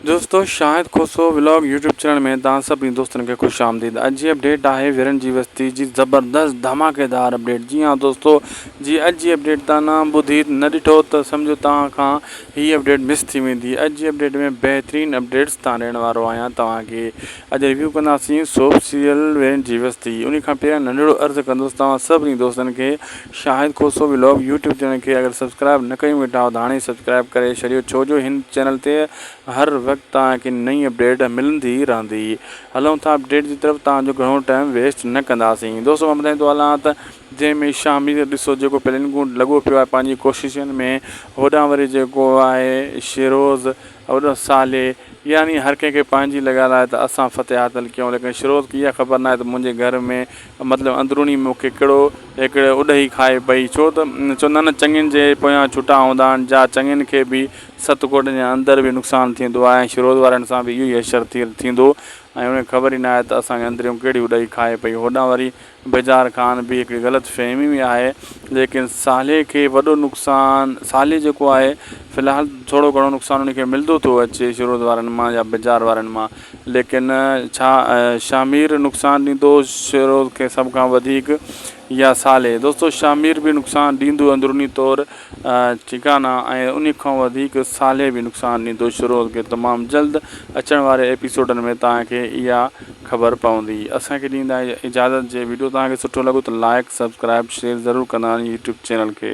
دوستو Shahid Khoso vlog YouTube channel ۾ توهان سڀني دوستن کي خوش آمديد اڄ جي اپڊيٽ آهي ويرن جي وستي جي زبردست ڌماڪيدار اپڊيٽ جي ها دوستو جي اڄ جي اپڊيٽ تان نه ٻڌي نه ڏٺو ته سمجهو توهان کان هي اپڊيٽ مس ٿي ويندي اڄ جي اپڊيٽ ۾ بهترين اپڊيٽس تان ڏيڻ وارو آهيان توهان کي اڄ ريويو ڪنداسين سوپ سيريل ويرن جي وستي انهي کان پهريان ننڍڙو عرض ڪندس توهان سڀني دوستن کي Shahid Khoso vlog YouTube channel کي اگر سبسڪرائب نه ڪيون ويٺا آهيو ته هاڻي ئي سبسڪرائب ڪري ڇڏيو ڇو جو هن چينل تي هر وقت توهان کي نئين اپڊيٽ ملندي رهندي هلون ٿا اپڊيٽ جي طرف توهان جو گهڻو ٽائيم ويسٽ نه ڪنداسين دوستو مان ٻڌائين ٿو هلان ته جنهن ۾ شاهمير ڏسو جيڪو پلين ڪون لڳو پيو آهي پنهنجي ڪوششن ۾ هوڏانهن وري جيڪو آهي شيروز هوڏانهن صالح يعني هر ڪنهن کي پنهنجي لڳل آهي ته اسان فتح حاصل ڪيون ليڪن شيروز کي اها خبر نه آهي ته منهنجي گهر ۾ مطلب اندروني مون کي ڪهڙو هڪڙي اڏهي کائي پئي ڇو ته چوندا آهن نه چڱين جي پويان ڇٽا هوندا آهن جا چڱين کي به ست ڪوٽن جي اندر به نقصان ٿيندو آهي ۽ شروز وارن سان به اهو ئي حشر ٿيندو ۽ انهن کي خبر ئي نه آهي ته اسان کي اندريون ڪهڙي اڏهي کائي پئي هوڏانهن وري بجار خان به هڪڙي غلط فهمي ۾ آهي ليڪن صالح کي وڏو نقصان صالح جيڪو آهي في الحال ٿورو گهڻو نقصان ان کي ملدو ٿو اچي شروز وارن مان يا بجار وارن مان ليڪن ڇا شاهه مير نقصان ڏيندو شيروز کي سڀ کان وڌيڪ يا صالح؟ دوستو شاهه مير به نقصان ڏيندو اندروني طور ٺيڪ آهي نه ۽ انهي کان وڌيڪ صالح به نقصان ڏيندو شيروز کي تمام جلد اچڻ واري ايپيسوڊن ۾ توهان کي اها خبر پوندي اسان کي ڏيندا اجازت جي ويڊيو توهان کي سٺو لڳو ته لائيڪ سبسڪرائيب شيئر ضرور ڪندا يوٽيوب چينل کي.